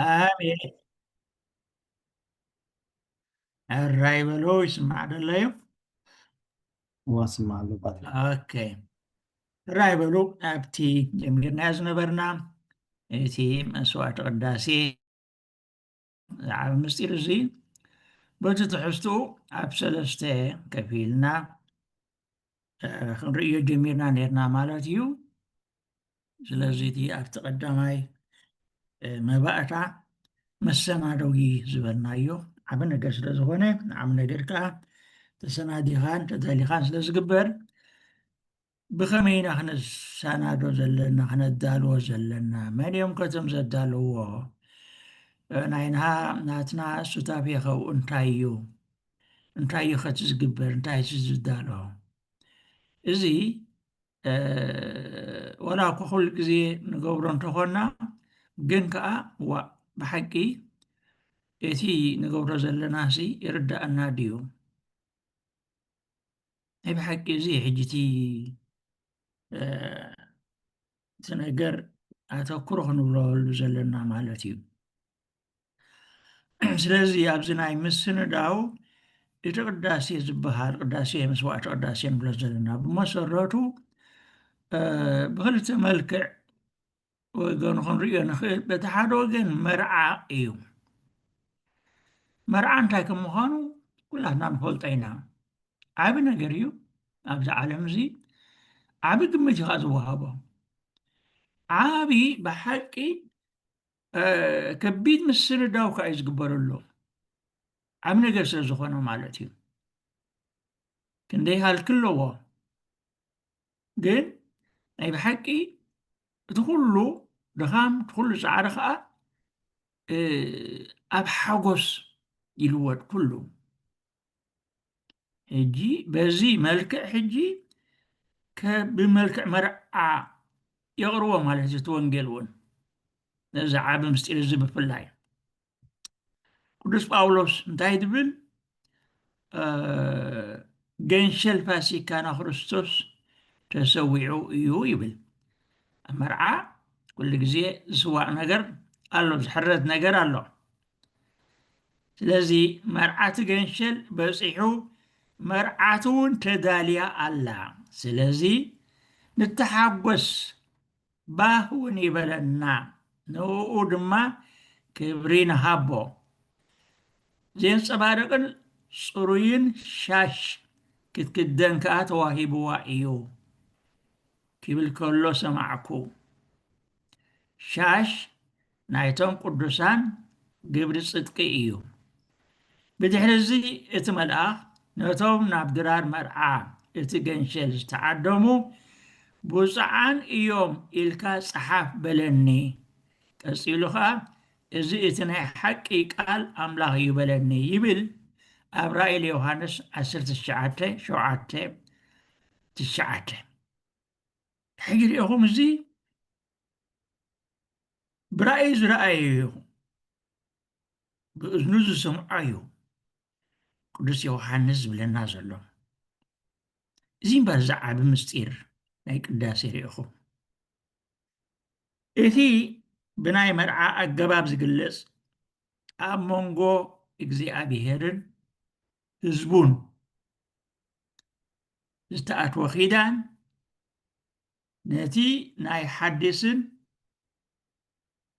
ኣሜን ሕራይ በሎ ይስማዕ ደሎ እዩ ዋስማዕ ኣሎባት ኦኬ ሕራይ በሉ ኣብቲ ጀሚርናዮ ዝነበርና እቲ መስዋዕቲ ቅዳሴ ዝዓበ ምስጢር እዚ በቲ ትሕዝትኡ ኣብ ሰለስተ ከፊልና ክንርእዮ ጀሚርና ነርና ማለት እዩ ስለዚ እቲ ኣብቲ ቀዳማይ መባእታ መሰናደዊ ዝበልናዮ ዓብ ነገር ስለ ዝኾነ ንዓብ ነገር ከዓ ተሰናዲኻን ተዳሊኻን ስለ ዝግበር ብኸመይ ኢና ክነሰናዶ ዘለና ክነዳልዎ ዘለና መን እዮም ከቶም ዘዳልዎ ናይና ናትና ሱታፌኸው እንታይ እዩ እንታይ እዩ ከቲ ዝግበር እንታይ እቲ ዝዳሎ እዚ ወላ እኳ ኩሉ ግዜ ንገብሮ እንተኾና ግን ከዓ ዋእ ብሓቂ እቲ ንገብሮ ዘለና ሲ ይርዳእና ድዩ ናይ ብሓቂ እዚ ሕጂ እቲ እቲ ነገር ኣተኩሮ ክንብለሉ ዘለና ማለት እዩ ስለዚ ኣብዚ ናይ ምስንዳው እቲ ቅዳሴ ዝበሃል ቅዳሴ መስዋዕቲ ቅዳሴ ንብሎ ዘለና ብመሰረቱ ብክልተ መልክዕ ወገኑ ክንሪኦ ንኽእል በቲ ሓደ ወገን መርዓ እዩ መርዓ እንታይ ከም ምዃኑ ኩላትና ንፈልጦ ኢና ዓብ ነገር እዩ ኣብዚ ዓለም እዚ ዓብ ግምት እዩ ዝወሃቦ ዓብ ብሓቂ ከቢድ ምስንዳው ከዓ እዩ ዝግበረሎም ዓብ ነገር ስለ ዝኾነ ማለት እዩ ክንደይ ሃልኪ ኣለዎ ግን ናይ ብሓቂ እቲ ኩሉ ድኻም እቲ ኩሉ ፃዕሪ ከዓ ኣብ ሓጎስ ይልወጥ ኩሉ ሕጂ በዚ መልክዕ ሕጂ ብመልክዕ መርዓ የቕርቦ ማለት እዩ እቲ ወንጌል እውን ነዚ ዓቢ ምስጢር እዚ ብፍላይ ቅዱስ ጳውሎስ እንታይ ትብል ገንሸል ፋሲካና ክርስቶስ ተሰዊዑ እዩ ይብል ኣብ መርዓ ኩሉ ግዜ ዝስዋእ ነገር ኣሎ ዝሕረት ነገር ኣሎ ስለዚ መርዓቲ ገንሸል በጺሑ መርዓቱ ውን ተዳልያ ኣላ ስለዚ ንተሓጎስ ባህ ውን ይበለና ንእኡ ድማ ክብሪ ንሃቦ ዜንጸባርቕን ጽሩይን ሻሽ ክትክደን ከኣ ተዋሂብዋ ኢዩ ኪብል ከሎ ሰማዕኩ ሻሽ ናይቶም ቅዱሳን ግብሪ ጽድቂ እዩ። ብድሕሪ እዚ እቲ መልኣኽ ነቶም ናብ ድራር መርዓ እቲ ገንሸል ዝተዓደሙ ብፁዓን እዮም ኢልካ ጽሓፍ በለኒ። ቀጺሉ ኸኣ እዚ እቲ ናይ ሓቂ ቃል ኣምላኽ እዩ በለኒ ይብል ኣብ ራእይ ለዮሃንስ ዓሰርተ ትሽዓተ ሸውዓተ ትሽዓተ። ሕጂ ርኢኹም እዚ ብራእይ ዝረኣየዮ ይኹን ብእዝኑ ዝሰምዖ እዩ ቅዱስ ዮሓንስ ዝብለና ዘሎ እዚ እምበር እዚ ዓቢ ምስጢር ናይ ቅዳሴ ርኢኹም እቲ ብናይ መርዓ ኣገባብ ዝግለጽ ኣብ መንጎ እግዚኣብሄርን ህዝቡን ዝተኣትወ ኪዳን ነቲ ናይ ሓዲስን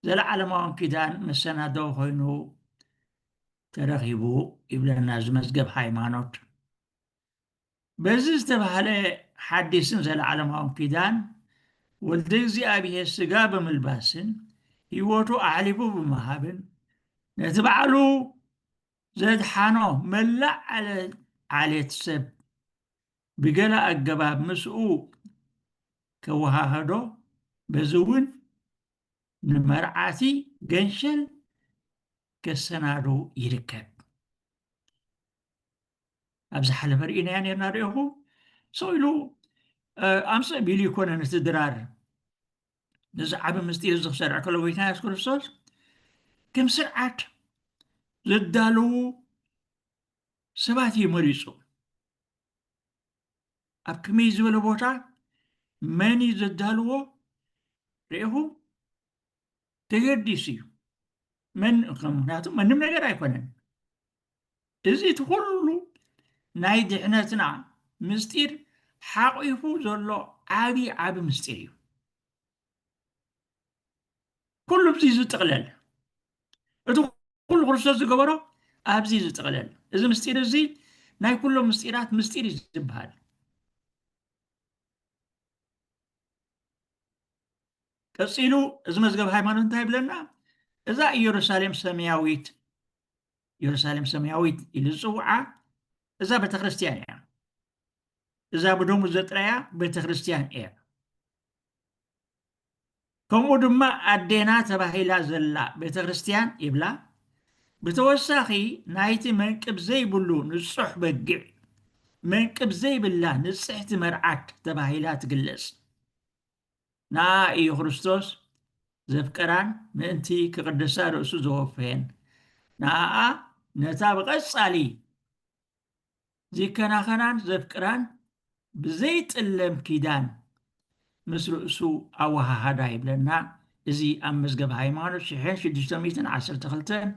ዘለዓለማውን ኪዳን መሰናደዊ ኮይኑ ተረኺቡ ይብለና እዚ መዝገብ ሃይማኖት። በዚ ዝተባህለ ሓዲስን ዘለዓለማውን ኪዳን ወልደ እግዚኣብሔር ስጋ ብምልባስን ህይወቱ ኣሕሊፉ ብምሃብን ነቲ ባዕሉ ዘድሓኖ መላእ ዓሌት ሰብ ብገለ ኣገባብ ምስኡ ከወሃህዶ በዚ እውን ንመርዓቲ ገንሸል ከሰናዱ ይርከብ ኣብ ዝሓለፈ ርኢናያ ነርና ርኢኹ ሰው ኢሉ ኣምፅእ ቢሉ ይኮነ ነቲ ድራር ነዚ ዓብ ምስጢር እዚ ክሰርዕ ከሎ ጎይታ የሱስ ክርስቶስ ከም ስርዓት ዘዳለዉ ሰባት እዩ መሪፁ ኣብ ከመይ ዝበለ ቦታ መን እዩ ዘዳልዎ ርኢኹም ተገዲሱ እዩ ምክንያቱ መንም ነገር ኣይኮነን እዚ እቲ ኩሉ ናይ ድሕነትና ምስጢር ሓቂፉ ዘሎ ዓብዪ ዓብ ምስጢር እዩ ኩሉ ኣብዚ እዩ ዝጥቕለል እቲ ኩሉ ክርስቶስ ዝገበሮ ኣብዚ እዩ ዝጥቕለል እዚ ምስጢር እዚ ናይ ኩሎም ምስጢራት ምስጢር እዩ ዝበሃል ቀፂሉ እዚ መዝገብ ሃይማኖት እንታይ ይብለና እዛ ኢየሩሳሌም ሰማያዊት ኢየሩሳሌም ሰማያዊት ኢሉ ዝፅውዓ እዛ ቤተክርስትያን እያ እዛ ብደሙ ዘጥረያ ቤተክርስትያን እያ ከምኡ ድማ ኣዴና ተባሂላ ዘላ ቤተ ክርስቲያን ይብላ። ብተወሳኺ ናይቲ መንቅብ ዘይብሉ ንጹሕ በጊዕ፣ መንቅብ ዘይብላ ንጽሕቲ መርዓት ተባሂላ ትግለጽ። ንኣ እዩ ክርስቶስ ዘፍቀራን ምእንቲ ክቕድሳ ርእሱ ዘወፈየን ንኣኣ ነታ ብቐጻሊ ዚከናኸናን ዘፍቅራን ብዘይጥለም ኪዳን ምስ ርእሱ ኣወሃሃዳ ይብለና። እዚ ኣብ መዝገብ ሃይማኖት ሽሕን ሽዱሽተ ሚእትን ዓሰርተ ክልተን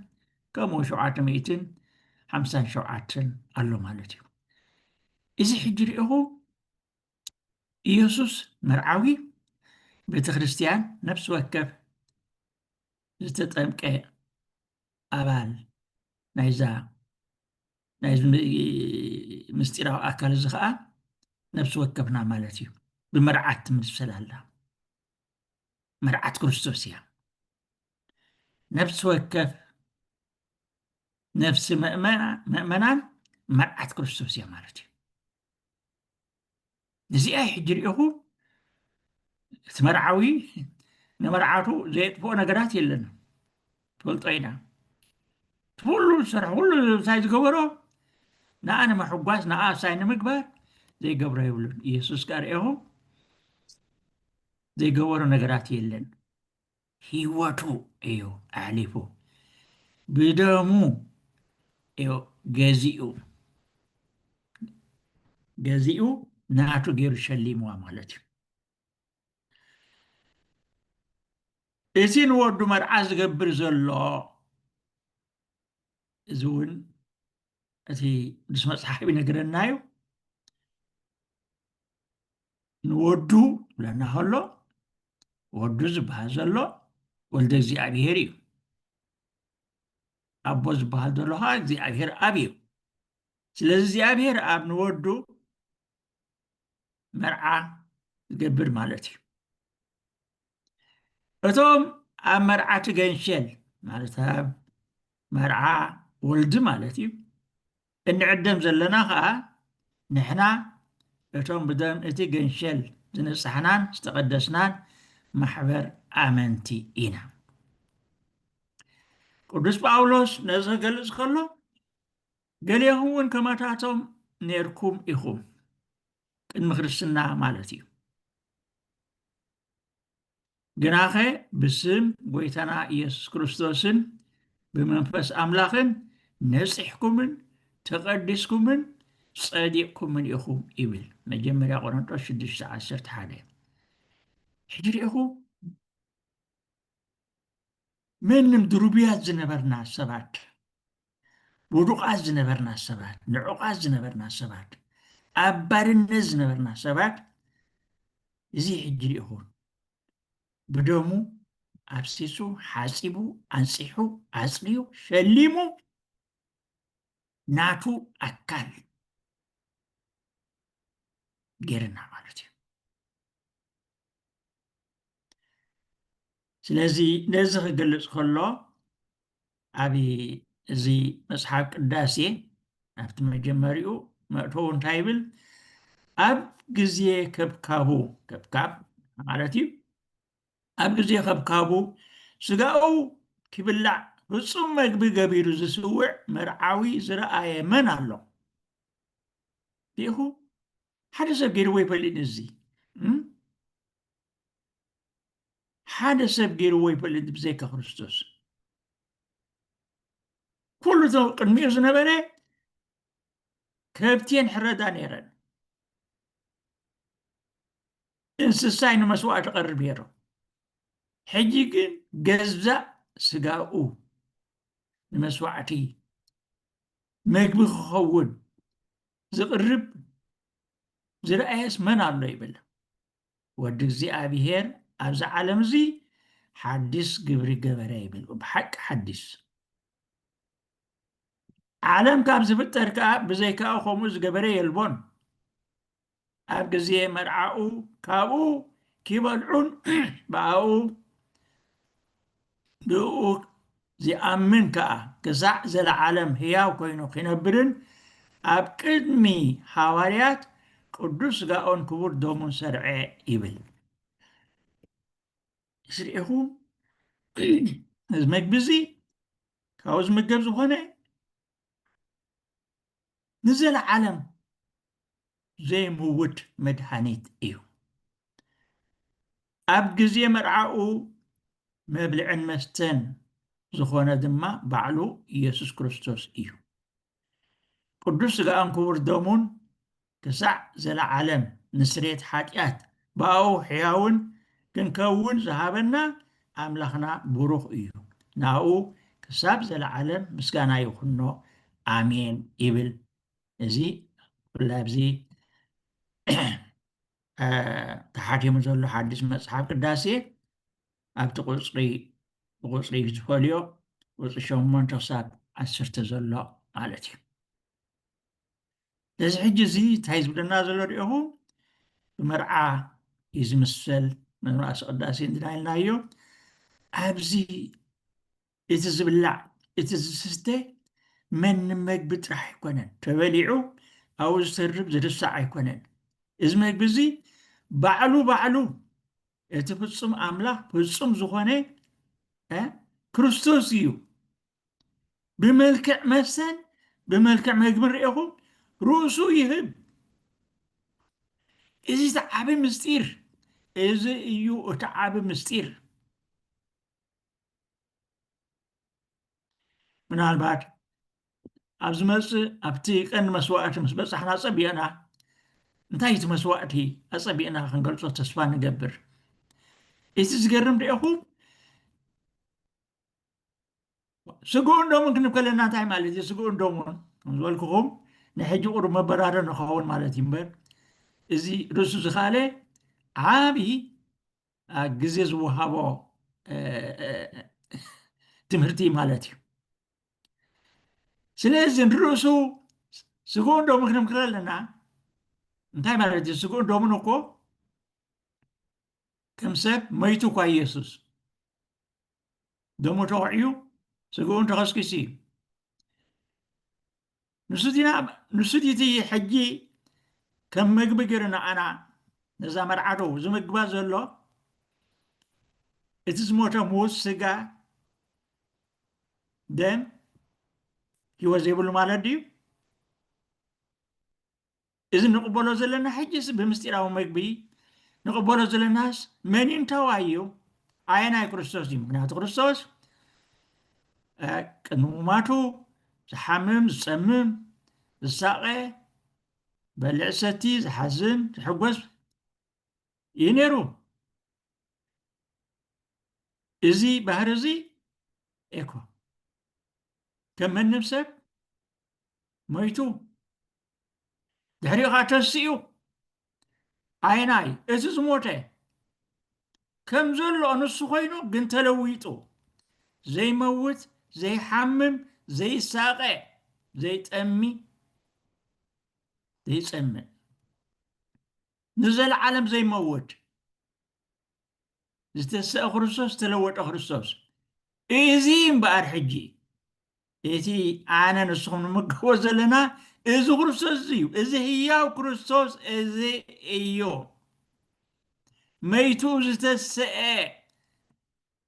ከምኡ ሸውዓተ ሚእትን ሓምሳን ሸውዓተን ኣሎ ማለት እዩ እዚ ሕጂ ርኢኹ ኢየሱስ መርዓዊ ቤተ ክርስቲያን ነፍሲ ወከፍ ዝተጠምቀ ኣባል ናይዛ ናይዚ ምስጢራዊ ኣካል እዚ ከዓ ነብሲ ወከፍና ማለት እዩ ብመርዓት ትምሰል ኣላ መርዓት ክርስቶስ እያ ነብሲ ወከፍ ነፍሲ መእመናን መርዓት ክርስቶስ እያ ማለት እዩ እዚኣ ሕጂ ርኢኹም እቲ መርዓዊ ንመርዓቱ ዘየጥፍኦ ነገራት የለን ትፈልጦ ኢና ኩሉ ዝሰርሐ ኩሉ ሳይ ዝገበሮ ንኣ ንምሕጓስ ንኣ ሳይ ንምግባር ዘይገብሮ የብሉን ኢየሱስ ጋር ርኢኹም ዘይገበሮ ነገራት የለን ሂወቱ እዩ ኣሕሊፉ ብደሙ እዩ ገዚኡ ገዚኡ ናቱ ገይሩ ሸሊምዋ ማለት እዩ እዚ ንወዱ መርዓ ዝገብር ዘሎ እዚ እውን እቲ ምስ መፅሓፍ ይነግረና እዩ ንወዱ ብለና ከሎ ወዱ ዝበሃል ዘሎ ወልደ እግዚኣብሄር እዩ ኣቦ ዝበሃል ዘሎ ከዓ እግዚኣብሄር ኣብ እዩ ስለዚ እግዚኣብሄር ኣብ ንወዱ መርዓ ዝገብር ማለት እዩ እቶም ኣብ መርዓቲ ገንሸል ማለት ኣብ መርዓ ወልዲ ማለት እዩ እንዕደም ዘለና ከዓ ንሕና እቶም ብደም እቲ ገንሸል ዝነፃሕናን ዝተቐደስናን ማሕበር ኣመንቲ ኢና ቅዱስ ጳውሎስ ነዚ ክገልፅ ከሎ ገሊኹም እውን ከማታቶም ነርኩም ኢኹም ቅድሚ ክርስትና ማለት እዩ ግናኸ ብስም ጎይታና ኢየሱስ ክርስቶስን ብመንፈስ ኣምላኽን ነፂሕኩምን ተቐዲስኩምን ጸዲቕኩምን ኢኹም ይብል መጀመርያ ቆሮንጦስ 6 11 ሕጂ ርኢኹ መንም ድሩብያት ዝነበርና ሰባት ውዱቓት ዝነበርና ሰባት ንዑቓት ዝነበርና ሰባት ኣብ ባርነት ዝነበርና ሰባት እዚ ሕጂ ርኢኹን ብደሙ ኣብሲሱ ሓፂቡ ኣንፂሑ ኣፅርዩ ሸሊሙ ናቱ ኣካል ገይርና ማለት እዩ ስለዚ ነዚ ክገልጽ ከሎ ኣብ እዚ መጽሓፍ ቅዳሴ ኣብቲ መጀመሪኡ መእተው እንታይ ይብል ኣብ ግዜ ከብካቡ ከብካብ ማለት እዩ ኣብ ግዜ ከብካቡ ስጋኡ ክብላዕ ፍጹም መግቢ ገቢሩ ዝስውዕ መርዓዊ ዝረኣየ መን ኣሎ ዲኹ ሓደ ሰብ ገይርዎ ይፈልጥ እዚ ሓደ ሰብ ገይርዎ ይፈልጥ ብዘይካ ክርስቶስ ኩሉ እቶ ቅድሚኡ ዝነበረ ከብቲን ሕረዳ ነይረን እንስሳይ ንመስዋዕቲ ቀርብ ነይሩ ሕጂ ግን ገዛእ ስጋኡ ንመስዋዕቲ መግቢ ክኸውን ዝቕርብ ዝረኣየስ መን ኣሎ ይብል ወዲ እግዚኣብሄር ኣብዚ ዓለም እዚ ሓድስ ግብሪ ገበረ ይብል ብሓቂ ሓድስ ዓለም ካብ ዝፍጠር ከዓ ብዘይካኡ ከምኡ ዝገበረ የልቦን ኣብ ግዜ መርዓኡ ካብኡ ኪበልዑን ብኣኡ ብእኡ ዚኣምን ከኣ ክሳዕ ዘለዓለም ህያው ኮይኑ ኺነብርን ኣብ ቅድሚ ሃዋርያት ቅዱስ ስጋኡን ክቡር ደሙን ሰርዐ ይብል ስርዒኹም እዚ መግቢ እዚ ካብኡ ዝምገብ ዝኾነ ንዘለዓለም ዘይምውት መድሃኒት እዩ። ኣብ ግዜ መርዓኡ መብልዕን መስተን ዝኾነ ድማ ባዕሉ ኢየሱስ ክርስቶስ እዩ። ቅዱስ ሥጋኡን ክቡር ደሙን ክሳዕ ዘለዓለም ንስሬት ሓጢኣት ብኣኡ ሕያውን ክንከውን ዝሃበና ኣምላኽና ቡሩኽ እዩ ንኣኡ ክሳብ ዘለዓለም ምስጋና ይኹኖ ኣሜን ይብል እዚ ብፍላይ ኣብዚ ተሓቲሙ ዘሎ ሓድሽ መጽሓፍ ቅዳሴ ኣብቲ ቁፅሪ ብቁፅሪ ዝፈልዮ ቁፅሪ ሸሞንተ ክሳብ ዓሰርተ ዘሎ ማለት እዩ ነዚ ሕጂ እዚ እንታይ ዝብለና ዘሎ ዲኹም ብመርዓ እዩ ዝምሰል መምራእሲ ቅዳሴ እንድና ኢልናዮ ኣብዚ እቲ ዝብላዕ እቲ ዝስተ መን ንመግቢ ጥራሕ ኣይኮነን ተበሊዑ ኣብኡ ዝተርብ ዝርሳዕ ኣይኮነን እዚ መግቢ እዚ ባዕሉ ባዕሉ እቲ ፍፁም ኣምላኽ ፍፁም ዝኾነ ክርስቶስ እዩ ብመልክዕ መስተን ብመልክዕ መግብን ርኤኹም ርእሱ ይህብ። እዚ እቲ ዓቢ ምስጢር እዚ እዩ እቲ ዓቢ ምስጢር። ምናልባት ኣብ ዝመፅእ ኣብቲ ቀንዲ መስዋእቲ ምስ በፃሕና ፀቢቕና እንታይ እቲ መስዋእቲ ኣፀቢቕና ክንገልፆ ተስፋ ንገብር እቲ ዝገርም ደኹም ስግኡን ደሙን ክንብ ከለና እንታይ ማለት እዩ? ስግኡን ደሙን ከም ዝበልክኹም ናይ ሕጂ ቁሩብ መበራሪ ንኸውን ማለት እዩ እምበር እዚ ርእሱ ዝኸኣለ ዓብዪ ግዜ ዝወሃቦ ትምህርቲ ማለት እዩ ስለዚ ንርእሱ ስግኡን ደሙን ክንብ ከለና እንታይ ማለት እዩ? ስግኡን ደሙን እኮ ከም ሰብ መይቱ እኳ ኢየሱስ ደሙ ተወዕዩ ስግኡን ተኸስኪሱ እዩ ንሱ እቲ ሕጂ ከም መግቢ ገይሩ ንዓና ነዛ መርዓዶ ዝምግባ ዘሎ እቲ ዝሞተ ምዉት ስጋ ደም ሂወት ዘይብሉ ማለት ድዩ እዚ ንቕበሎ ዘለና ሕጅስ ብምስጢራዊ መግቢ ንቕበሎ ዘለናስ መን እንታዋይ እዩ ኣየናይ ክርስቶስ እዩ ምክንያቱ ክርስቶስ ቅድሚ ሙማቱ ዝሓምም ዝፀምም ዝሳቐ በልዕ ሰቲ ዝሓዝን ዝሕጎስ እዩ ነይሩ እዚ ባህር እዚ ኤኮ ከም መንም ሰብ ሞይቱ ድሕሪኡ ኸዓ ተንስኡ ኣይናይ እቲ ዝሞተ ከም ዘሎ ንሱ ኮይኑ ግን ተለዊጡ ዘይመውት ዘይሓምም ዘይሳቐ ዘይጠሚ ዘይፀምእ ንዘለዓለም ዘይመውት ዝተሰአ ክርስቶስ ዝተለወጠ ክርስቶስ እዚ እምበኣር ሕጂ እቲ ኣነ ንስኹም ንምገቦ ዘለና እዚ ክርስቶስ እዩ እዚ ህያው ክርስቶስ እዚ እዩ መይቱ ዝተሰአ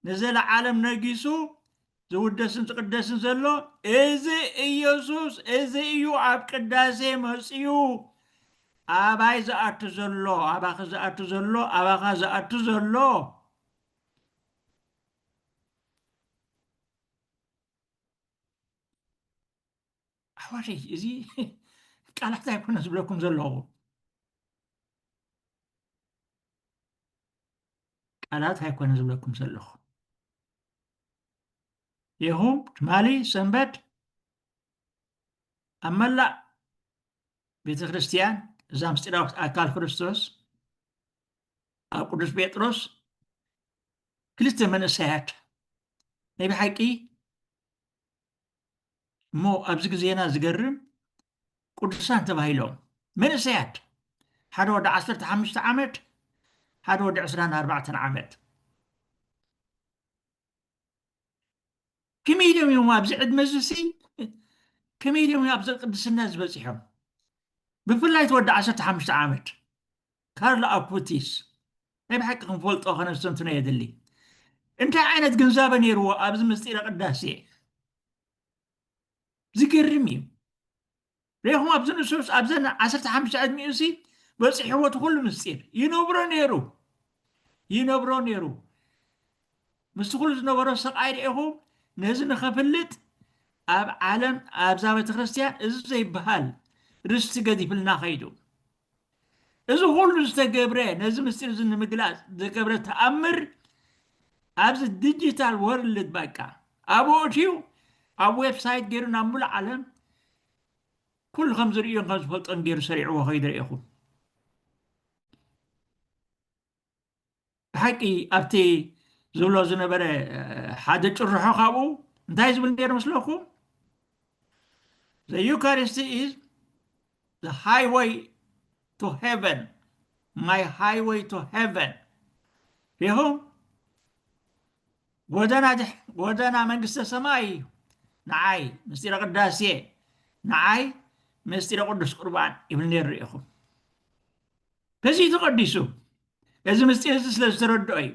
ንዘለዓለም ነጊሱ ዝውደስን ዝቅደስን ዘሎ እዚ ኢየሱስ እዚ እዩ ኣብ ቅዳሴ መፅዩ ኣባይ ዝኣቱ ዘሎ ኣባኺ ዝኣቱ ዘሎ ኣባኻ ዝኣቱ ዘሎ ኣሕዋተይ እዚ ቃላት ኣይኮነ ዝብለኩም ዘለኹ ቃላት ኣይኮነ ዝብለኩም ዘለኹ ይኹም ትማሊ ሰንበት ኣብ መላእ ቤተ ክርስቲያን እዛ ምስጢራዊት ኣካል ክርስቶስ ኣብ ቅዱስ ጴጥሮስ ክልተ መንእሰያት ናይ ብሓቂ እሞ ኣብዚ ግዜና ዝገርም ቅዱሳን ተባሂሎም መንእሰያት ሓደ ወዲ 15 ዓመት ሓደ ወዲ 24 ዓመት ከመይ ኢሎም እዮም ኣብዚ ዕድመ እዚሲ ከመይ ኢሎም እዮም ኣብዚ ቅድስና ዝበፂሖም ብፍላይ እቲ ወዲ ዓሰርተ ሓሙሽተ ዓመት ካርሎ ኣፑቲስ ናይ ብሓቂ ክንፈልጦ ከነስተንትኖ የድሊ እንታይ ዓይነት ግንዛበ ነይርዎ ኣብዚ ምስጢረ ቅዳሴ ዝገርም እዩ ሬኹም ኣብዚ ንሱስ ኣብዘን ዓሰርተ ሓሙሽተ ዕድሚኡሲ በፂሕዎ እቲ ኩሉ ምስጢር ይነብሮ ነይሩ ይነብሮ ነይሩ ምስቲ ኩሉ ዝነበሮ ስቃይ ርኢኹም ነዚ ንኸፍልጥ ኣብ ዓለም ኣብዛ ቤተ ክርስቲያን እዚ ዘይበሃል ርስቲ ገዲፍልና ኸይዱ እዚ ኹሉ ዝተገብረ ነዚ ምስጢር እዚ ንምግላፅ ዝተገብረ ተኣምር ኣብዚ ዲጂታል ወርልድ በቃ ኣብኡ እትዩ ኣብ ዌብሳይት ገይሩ ናብ ሙሉእ ዓለም ኩሉ ከም ዝርእዮን ከም ዝፈልጦን ገይሩ ሰሪዕዎ ከይዱ ርኢኹም ብሓቂ ኣብቲ ዝብሎ ዝነበረ ሓደ ጭርሖ ካብኡ እንታይ ዝብል ነይሩ መስለኩም The Eucharist is the highway to heaven my highway to heaven ይኹም ጎደና ጎደና መንግስተ ሰማይ እዩ ንዓይ ምስጢረ ቅዳሴ ንዓይ ምስጢረ ቅዱስ ቁርባን ይብል ነይሩ ኢኹም ህዝቢ ተቐዲሱ እዚ ምስጢር እዚ ስለ ዝተረድኦ እዩ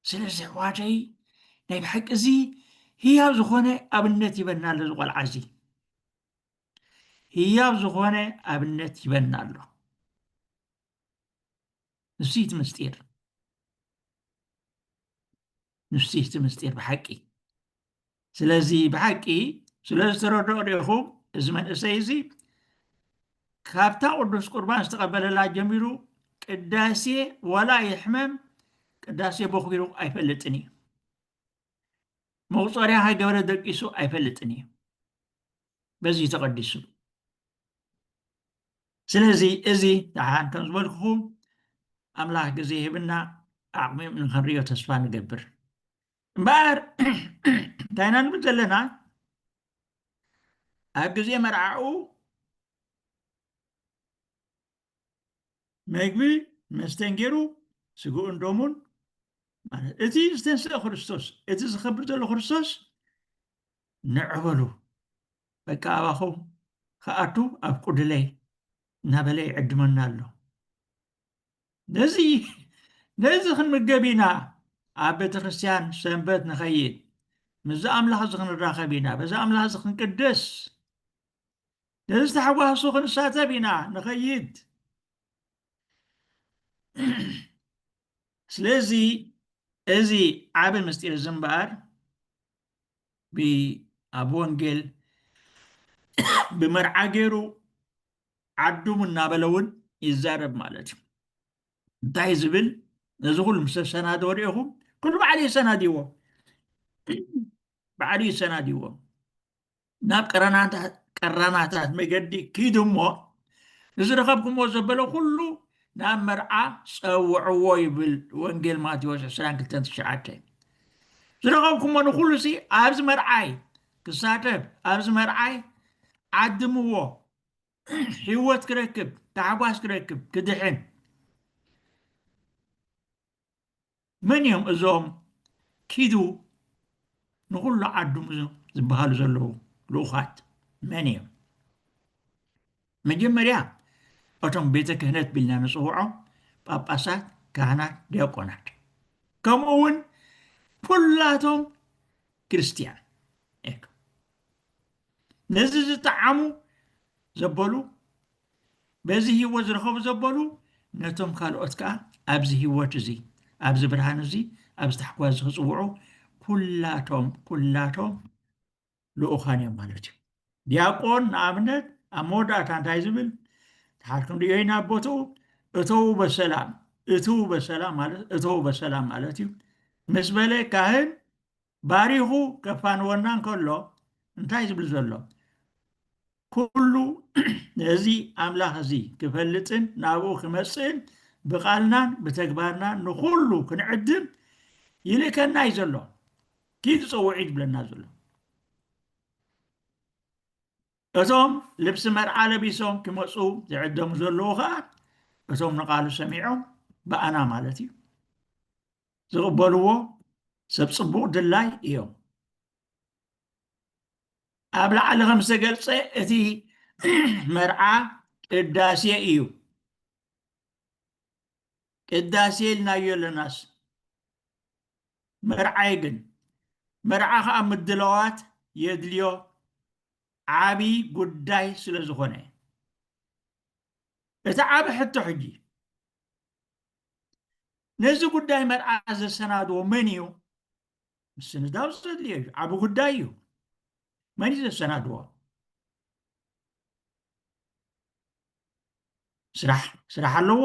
ስለዚ ኣሕዋተይ ናይ ብሓቂ እዚ ህያብ ዝኾነ ኣብነት ይበና ኣሎ እዚ ቆልዓ እዚ ህያብ ዝኾነ ኣብነት ይበና ኣሎ ንሱ እቲ ምስጢር ንሱ እቲ ምስጢር ብሓቂ ስለዚ ብሓቂ ስለ ዝተረድኦ ዲኹም እዚ መንእሰይ እዚ ካብታ ቅዱስ ቁርባን ዝተቐበለላ ጀሚሩ ቅዳሴ ወላ ይሕመም ቅዳሴ ቦኽቢሩ ኣይፈልጥን እዩ መቁፀሪያ ሃገበረ ደቂሱ ኣይፈልጥን እዩ በዚ እዩ ተቐዲሱ ስለዚ እዚ ደሓን ከም ዝበልኩኹም ኣምላኽ ግዜ ሂብና ዓቕሚ ንኸንሪዮ ተስፋ ንገብር እምበኣር እንታይ ኢና ንብል ዘለና ኣብ ግዜ መርዓኡ መግቢ መስተን ገይሩ ስግኡን ደሙን ማለት እቲ ዝተንስአ ክርስቶስ እቲ ዝኸብር ዘሎ ክርስቶስ ንዕበሉ በቃ ኣባኹም ከኣቱ ኣብ ቁድለይ እናበለ ይዕድመና ኣሎ ነዚ ነዚ ክንምገብ ኢና ኣብ ቤተ ክርስትያን ሰንበት ንኸይድ ምስዚ ኣምላኽ እዚ ክንራኸብ ኢና በዚ ኣምላኽ እዚ ክንቅደስ ነዚ ተሓጓሱ ክንሳተፍ ኢና ንኸይድ ስለዚ እዚ ዓብ ምስጢር እዚ እምበኣር ኣብ ወንጌል ብመርዓ ገይሩ ዓዱም እናበለ እውን ይዛረብ ማለት እዩ እንታይ ዝብል ነዚ ኩሉ ምስ ተሰናድዎ ሪኢኹም ኩሉ ባዕሉ የሰናድዎ ባዕሉ ይሰናድዎ ናብ ቀራናታት መገዲ ኪዱ እሞ ንዝረኸብኩምዎ ዘበለ ኩሉ ናብ መርዓ ጸውዕዎ ይብል ወንጌል ማቴዎስ 22:9 ዝረኸብኩሞ ንኩሉ ሲ ኣብዚ መርዓይ ክሳተፍ ኣብዚ መርዓይ ዓድምዎ ህይወት ክረክብ ታሕጓስ ክረክብ ክድሕን መን እዮም እዞም ኪዱ ንኹሉ ዓዱሙ ዝበሃሉ ዘለዉ ልኡኻት መን እዮም? መጀመርያ እቶም ቤተ ክህነት ቢልና ንፅውዖም ጳጳሳት፣ ካህናት፣ ዲያቆናት ከምኡ እውን ኩላቶም ክርስትያን ነዚ ዝጠዓሙ ዘበሉ በዚ ህይወት ዝረኸቡ ዘበሉ ነቶም ካልኦት ከዓ ኣብዚ ህይወት እዚ ኣብዚ ብርሃን እዚ ኣብዚ ታሕጓስ እዚ ክፅውዑ ኩላቶም ኩላቶም ልኡኻን እዮም ማለት እዩ ዲያቆን ንኣብነት ኣብ መወዳእታ እንታይ ዝብል ተሓልኩም ድዮ ኢና ቦትኡ እተዉ በሰላም እትዉ በሰላም ማለት እተዉ በሰላም ማለት እዩ ምስ በለ ካህን ባሪኹ ከፋንወና እንከሎ እንታይ ዝብል ዘሎ ኩሉ እዚ ኣምላኽ እዚ ክፈልጥን ናብኡ ክመፅእን ብቓልናን ብተግባርናን ንኹሉ ክንዕድም ይልእከና እዩ ዘሎ ኪድ ፀውዒ ዝብለና ዘሎ እቶም ልብሲ መርዓ ለቢሶም ክመፁ ዝዕደሙ ዘለዉ ከዓ እቶም ንቃሉ ሰሚዖም ብኣና ማለት እዩ ዝቕበልዎ ሰብ ጽቡቕ ድላይ እዮም ኣብ ላዕሊ ከም ዝተገልጸ እቲ መርዓ ቅዳሴ እዩ ቅዳሴ ኢልናዮ ኣለናስ መርዓይ ግን መርዓ ከዓ ምድለዋት የድልዮ ዓብዪ ጉዳይ ስለ ዝኾነ እቲ ዓብ ሕቶ ሕጂ ነዚ ጉዳይ መርዓ ዘሰናድዎ መን እዩ? ምስንዳው ዘድልዮ እዩ፣ ዓቢ ጉዳይ እዩ። መን እዩ ዘሰናድዎ? ስራሕ ስራሕ ኣለዎ፣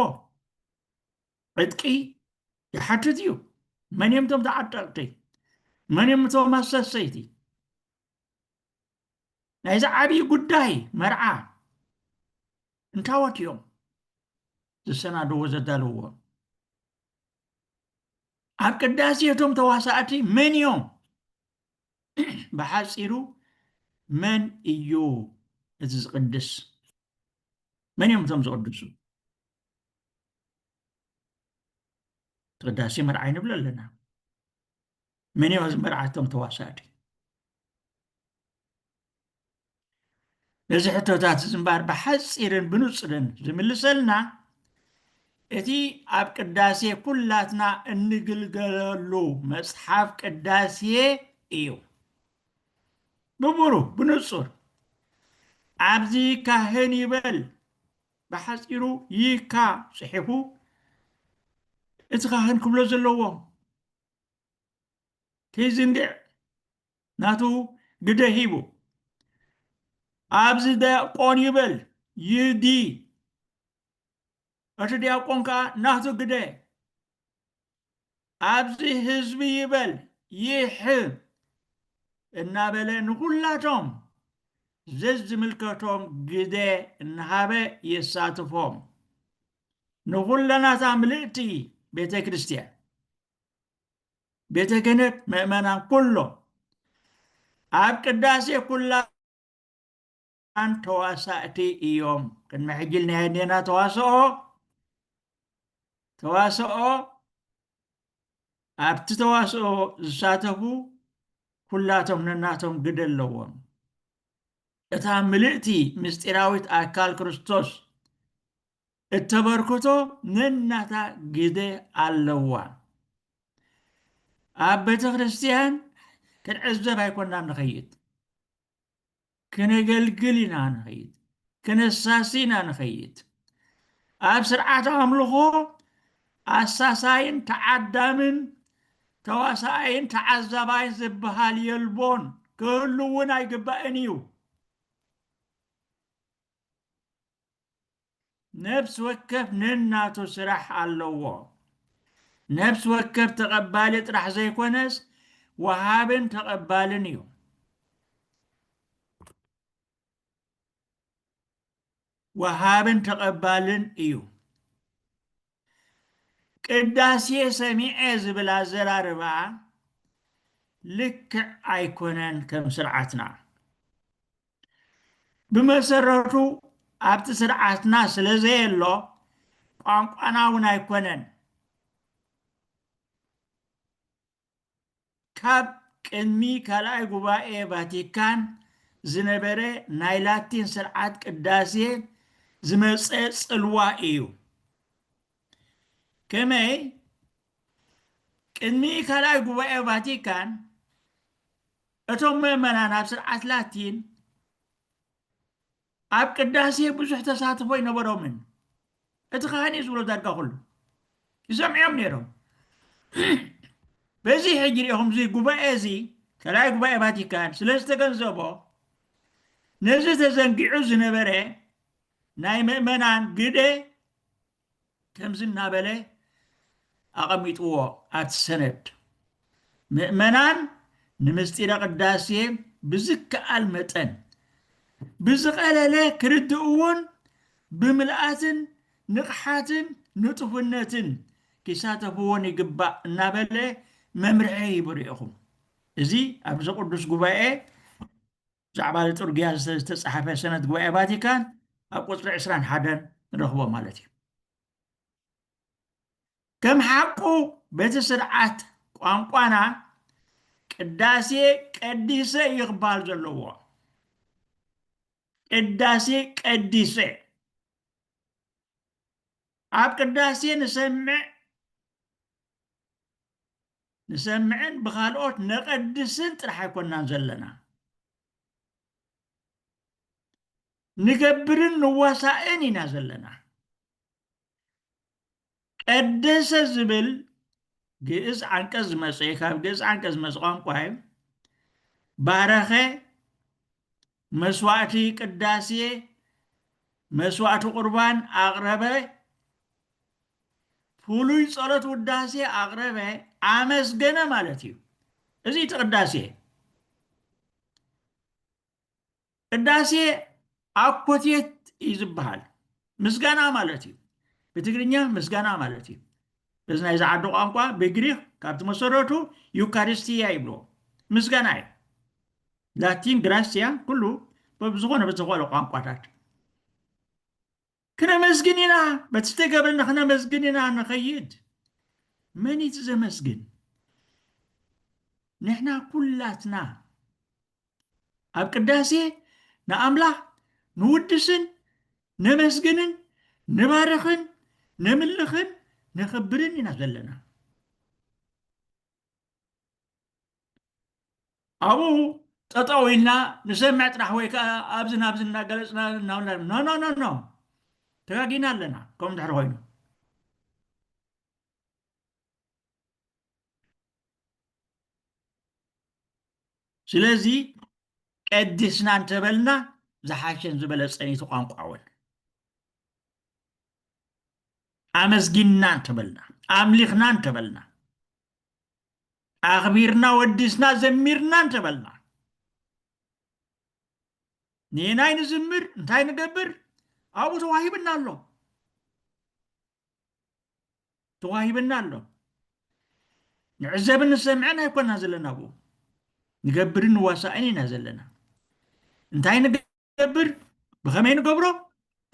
ዕጥቂ ይሓትት እዩ። መን እዮም እቶም ተዓጠቕቲ? መን እዮም እቶም ኣሰሰይቲ? ናይዚ ዓብዪ ጉዳይ መርዓ እንታዎት እዮም? ዝሰናደዎ ዘዳለዎ ኣብ ቅዳሴ እቶም ተዋሳእቲ መን እዮም? ብሓፂሩ መን እዩ እቲ ዝቅድስ? መን እዮም እቶም ዝቅድሱ? ቅዳሴ መርዓይ ንብሎ ኣለና። መን እዮም ኣብዚ መርዓ እቶም ተዋሳእቲ ነዚ ሕቶታት እዚ እምበር ብሓፂርን ብንፅርን ዝምልሰልና እቲ ኣብ ቅዳሴ ኩላትና እንግልገለሉ መፅሓፍ ቅዳሴ እዩ ብብሩህ ብንፁር ኣብዚ ካህን ይበል ብሓፂሩ ይካ ፅሒፉ እቲ ካህን ክብሎ ዘለዎ ኪሲንጌር ናቱ ግደ ሂቡ ኣብዚ ዲያቆን ይበል ይዲ እቲ ዲያቆን ከዓ ናቱ ግደ ኣብዚ ህዝቢ ይበል ይሕ እናበለ ንኩላቶም ዘዝምልከቶም ግደ እናሃበ የሳትፎም ንኩለናታ ምልእቲ ቤተ ክርስቲያን ቤተ ክህነት ምእመናን ኩሎም ኣብ ቅዳሴ ኩላን ተዋሳእቲ እዮም ቅድሚ ሕጂ ናይ ኣዴና ተዋስኦ ተዋስኦ ኣብቲ ተዋስኦ ዝሳተፉ ኩላቶም ነናቶም ግደ ኣለዎም እታ ምልእቲ ምስጢራዊት ኣካል ክርስቶስ እተበርክቶ ነናታ ግደ ኣለዋ። ኣብ ቤተ ክርስቲያን ክንዕዘብ ኣይኮናን ንኸይድ፣ ክነገልግል ኢና ንኸይድ፣ ክነሳሲ ኢና ንኸይድ። ኣብ ስርዓት ኣምልኾ ኣሳሳይን ተዓዳምን ተዋሳኣይን ተዓዛባይን ዝበሃል የልቦን ክህሉ እውን ኣይግባእን እዩ። ነፍሲ ወከፍ ነናቱ ስራሕ ኣለዎ። ነፍሲ ወከፍ ተቐባሊ ጥራሕ ዘይኮነስ ወሃብን ተቐባልን እዩ። ወሃብን ተቐባልን እዩ። ቅዳሴ ሰሚዐ ዝብል ኣዘራርባ ልክዕ ኣይኮነን ከም ስርዓትና ብመሰረቱ ኣብቲ ስርዓትና ስለ ዘየሎ ቋንቋና እውን ኣይኮነን ካብ ቅድሚ ካልኣይ ጉባኤ ቫቲካን ዝነበረ ናይ ላቲን ስርዓት ቅዳሴ ዝመጸ ጽልዋ እዩ። ከመይ ቅድሚ ካልኣይ ጉባኤ ቫቲካን እቶም ምእመናን ኣብ ስርዓት ላቲን ኣብ ቅዳሴ ብዙሕ ተሳትፎ ኣይነበሮምን። እቲ ኻህን እዩ ዝብሎ ዳርጋ ኩሉ ይሰምዕዮም ነይሮም። በዚ ሕጂ ሪኢኹም እዚ ጉባኤ እዚ ካልኣይ ጉባኤ ቫቲካን ስለ ዝተገንዘቦ ነዚ ተዘንጊዑ ዝነበረ ናይ ምእመናን ግደ ከምዚ እናበለ ኣቐሚጥዎ ኣቲ ሰነድ ምእመናን ንምስጢረ ቅዳሴ ብዝከኣል መጠን ብዝቐለለ ክርድእውን ብምልኣትን ንቕሓትን ንጡፍነትን ኪሳተፍዎን ይግባእ እናበለ መምርሒ ሂቡ ርኢኹም እዚ ኣብዚ ቅዱስ ጉባኤ ብዛዕባ እዚ ጥርጉያ ዝተጻሓፈ ሰነድ ጉባኤ ቫቲካን ኣብ ቁጽሪ ዕስራን ሓደን ንረኽቦ ማለት እዩ ከም ሓቁ በቲ ስርዓት ቋንቋና ቅዳሴ ቀዲሰ እዩ ክበሃል ዘለዎ ቅዳሴ ቀዲሰ ኣብ ቅዳሴ ንሰምዕ ንሰምዕን ብኻልኦት ነቐድስን ጥራሕ ኣይኮናን ዘለና። ንገብርን ንዋሳእን ኢና ዘለና። ቀደሰ ዝብል ግእዝ ዓንቀጽ ዝመጸ ካብ ግእዝ ዓንቀጽ ዝመጸ ቋንቋ እዩ። ባረኸ መስዋዕቲ ቅዳሴ መስዋዕቲ ቁርባን ኣቕረበ፣ ፍሉይ ጸሎት ውዳሴ ኣቕረበ፣ ኣመስገነ ማለት እዩ። እዚ እቲ ቅዳሴ ቅዳሴ ኣኮቴት እዩ ዝበሃል ምስጋና ማለት እዩ። ብትግርኛ ምስጋና ማለት እዩ። እዚ ናይ ዝዓዲ ቋንቋ ብግሪክ ካብቲ መሰረቱ ዩካሪስትያ ይብልዎ ምስጋና እዩ። ላቲን ግራሲያ ኩሉ በብዝኾነ ብዝኾነ ቋንቋታት ክነመስግን ኢና በቲ ዝተገብረና ክነመስግን ኢና ንኸይድ መን እዩ ዘመስግን ንሕና ኩላትና ኣብ ቅዳሴ ንኣምላኽ ንውድስን ነመስግንን ንባርኽን ነምልኽን ነኽብርን ኢና ዘለና ኣብኡ ጠጠው ኢልና ንሰምዕ ጥራሕ ወይ ከዓ ኣብዚ ናብዚ እናገለፅና ኖኖኖኖ ተጋጊና ኣለና ከምኡ ድሕሪ ኮይኑ ስለዚ ቀዲስና እንተበልና ዝሓሸን ዝበለፀን እዩ ቋንቋ እውን ኣመስጊንና እንተበልና ኣምሊኽና እንተበልና ኣኽቢርና ወዲስና ዘሚርና እንተበልና ንየናይ ንዝምር እንታይ ንገብር ኣብኡ ተዋሂብና ኣሎ ተዋሂብና ኣሎ ንዕዘብን ንሰምዐን ኣይኮና ዘለና ብኡ ንገብርን ንዋሳእን ኢና ዘለና እንታይ ንገብር ብኸመይ ንገብሮ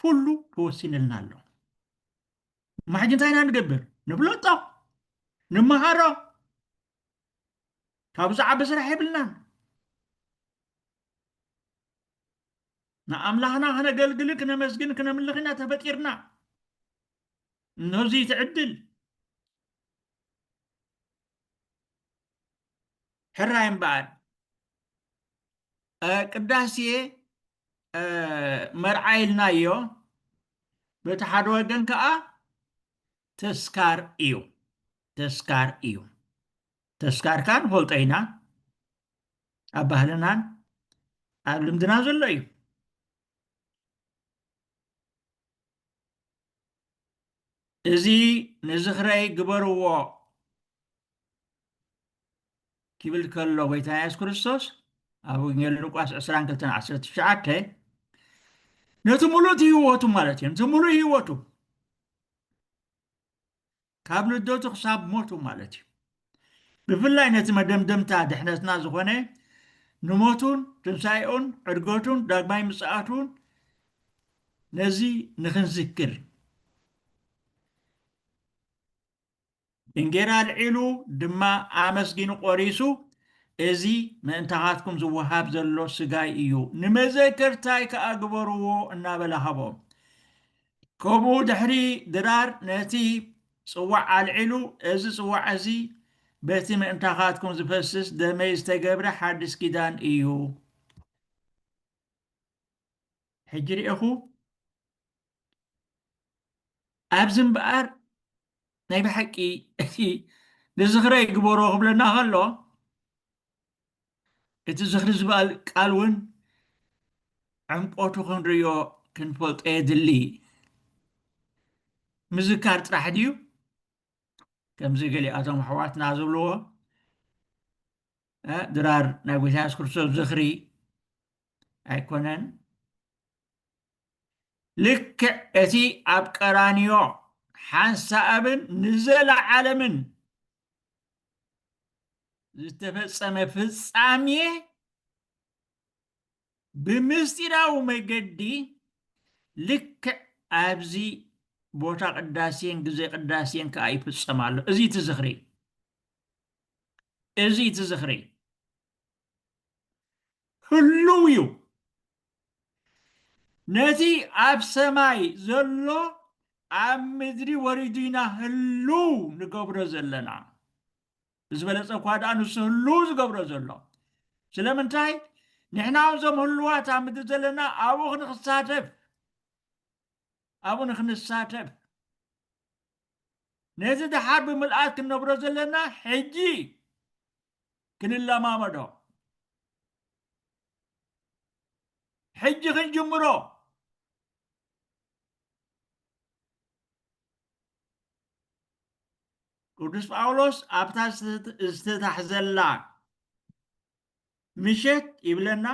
ኩሉ ተወሲንልና ኣሎ እሞ ሕጂ እንታይ ኢና ንገብር ንብለጦ ንመሃሮ ካብኡ ዝዓቢ ስራሕ የብልናን ንኣምላኽና ክነገልግል ክነመስግን ክነምልኽ ኢና ተፈጢርና እነዚ ትዕድል ሕራይ እምበኣር ቅዳሴ መርዓ ኢልናዮ በቲ ሓደ ወገን ከዓ ተስካር እዩ ተስካር እዩ ተስካር ከዓ ንፈልጦ ኢና ኣብ ባህልናን ኣብ ልምድና ዘሎ እዩ እዚ ንዝኽረይ ግበርዎ ኪብል ከሎ ጎይታና የሱስ ክርስቶስ ኣብ ወንጌል ሉቃስ 22:19 ነቲ ሙሉእ ህይወቱ ማለት እዩ ነቲ ሙሉእ ህይወቱ ካብ ልደቱ ክሳብ ሞቱ ማለት እዩ ብፍላይ ነቲ መደምደምታ ድሕነትና ዝኾነ ንሞቱን ትንሳኤኡን ዕድገቱን ዳግማይ ምጽኣቱን ነዚ ንክንዝክር እንጌራ ኣልዒሉ ድማ ኣመስጊኑ ቈሪሱ፣ እዚ ምእንታኻትኩም ዝወሃብ ዘሎ ስጋይ እዩ፣ ንመዘከርታይ ከኣ ግበርዎ እናበለ ሃቦም። ከምኡ ድሕሪ ድራር ነቲ ጽዋዕ ኣልዒሉ፣ እዚ ጽዋዕ እዚ በቲ ምእንታኻትኩም ዝፈስስ ደመይ ዝተገብረ ሓድስ ኪዳን እዩ። ሕጂ ርኤኹ ኣብዚ እምበኣር ናይ ብሓቂ እቲ ንዝኽረ ይግበሮ ክብለና ከሎ እቲ ዝኽሪ ዝበል ቃል እውን ዕምቆቱ ክንርእዮ ክንፈልጦ የድሊ ምዝካር ጥራሕ ድዩ ከምዚ ገሊኣቶም ኣሕዋትና ዝብልዎ ድራር ናይ ጎይታ የሱስ ክርስቶስ ዝኽሪ ኣይኮነን ልክዕ እቲ ኣብ ቀራንዮ ሓንሳኣብን ንዘለዓለምን ዝተፈጸመ ፍጻሜ ብምስጢራዊ መገዲ ልክዕ ኣብዚ ቦታ ቅዳሴን ግዜ ቅዳሴን ከዓ ይፍጸም ኣሎ እዚ እቲ ዝኽሪ እዚ እቲ ዝኽሪ ህሉው እዩ ነቲ ኣብ ሰማይ ዘሎ ኣብ ምድሪ ወሪዱ ኢና ህሉው ንገብሮ ዘለና ብዝበለፀ እኳ ደኣ ንሱ ህሉው ዝገብሮ ዘሎ ስለምንታይ ንሕና እዞም ህሉዋት ኣብ ምድሪ ዘለና ኣብኡ ክንክሳተፍ ኣብኡ ንክንሳተፍ ነዚ ድሓር ብምልኣት ክንነብሮ ዘለና ሕጂ ክንለማመዶ ሕጂ ክንጅምሮ ቅዱስ ጳውሎስ ኣብታ ዝተታሕዘላ ምሸት ይብለና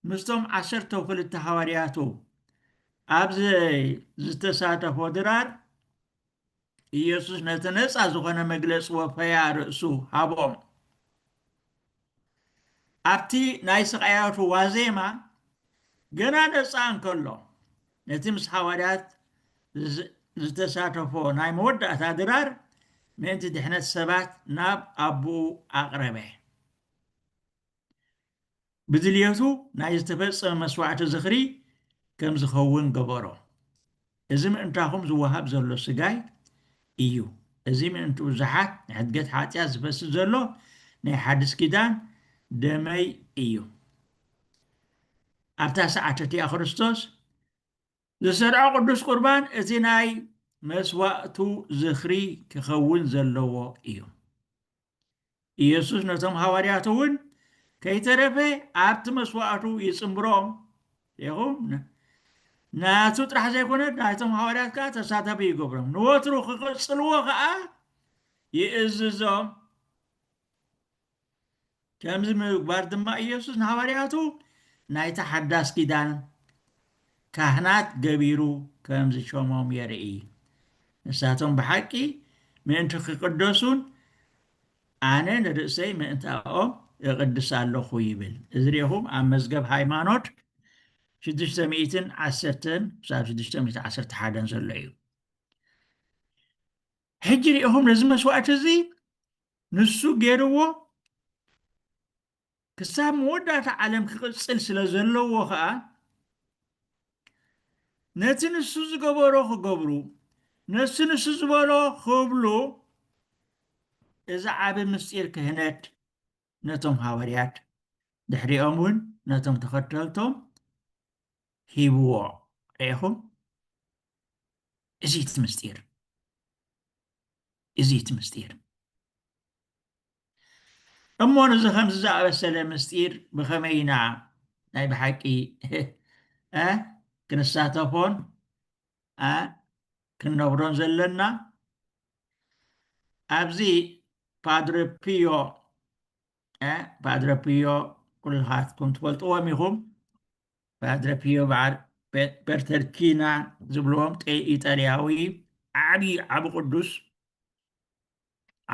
ምስቶም ዓሰርተው ክልተ ሃዋርያቱ ኣብዚ ዝተሳተፎ ድራር ኢየሱስ ነቲ ነፃ ዝኾነ መግለፂ ወፈያ ርእሱ ሃቦም። ኣብቲ ናይ ስቃያቱ ዋዜማ ገና ነፃ እንከሎ ነቲ ምስ ሃዋርያት ዝተሳተፎ ናይ መወዳእታ ድራር ምእንቲ ድሕነት ሰባት ናብ ኣቦኡ ኣቕረበ። ብድልየቱ ናይ ዝተፈጸመ መስዋዕቲ ዝኽሪ ከም ዝኸውን ገበሮ። እዚ ምእንታኹም ዝወሃብ ዘሎ ስጋይ እዩ፣ እዚ ምእንቲ ብዙሓት ንሕድገት ሓጢኣት ዝፈስስ ዘሎ ናይ ሓድስ ኪዳን ደመይ እዩ። ኣብታ ሰዓት እቲኣ ክርስቶስ ዝሰርዖ ቅዱስ ቁርባን እቲ ናይ መስዋእቱ ዝኽሪ ክኸውን ዘለዎ እዩ። ኢየሱስ ነቶም ሃዋርያቱ እውን ከይተረፈ ኣብቲ መስዋእቱ ይጽምብሮም ይኹም ናቱ ጥራሕ ዘይኮነ ናይቶም ሃዋርያት ከዓ ተሳታፊ ይገብሮም ንወትሩ ክቅፅልዎ ከዓ ይእዝዞም ከምዚ ምግባር ድማ ኢየሱስ ንሃዋርያቱ ናይቲ ሓዳስ ኪዳን ካህናት ገቢሩ ከም ዝሾሞም የርኢ። ንሳቶም ብሓቂ ምእንቲ ኺቅደሱን ኣነ ንርእሰይ ምእንታኦም እቕድስ ኣሎኹ ይብል። እዚ ርኢኹም ኣብ መዝገብ ሃይማኖት ሽዱሽተ ሚእትን ዓሰርተን ክሳብ ሽዱሽተ ሚእቲ ዓሰርተ ሓደን ዘሎ እዩ። ሕጂ ርኢኹም ነዚ መስዋእቲ እዚ ንሱ ገይርዎ ክሳብ መወዳእታ ዓለም ክቕጽል ስለ ዘለዎ ኸኣ ነቲ ንሱ ዝገበሮ ክገብሩ ነሱ ንሱ ዝበሎ ክብሉ እዚ ዓቢ ምስጢር ክህነት ነቶም ሃወርያት ድሕሪኦም እውን ነቶም ተኸተልቶም ሂብዎ ርኢኹም እዚ እቲ ምስጢር እዚ እቲ ምስጢር እሞ ንዚ ከምዚ ዝኣበሰለ ምስጢር ብኸመይ ኢና ናይ ብሓቂ ክንሳተፎን ክንነብሮን ዘለና ኣብዚ ፓድረ ፒዮ ፓድረ ፒዮ ኩልኻትኩም ትፈልጥዎም ኢኹም ፓድረ ፒዮ በዓል ፐርተርኪና ዝብልዎም ኢጣልያዊ ዓብዪ ዓብ ቅዱስ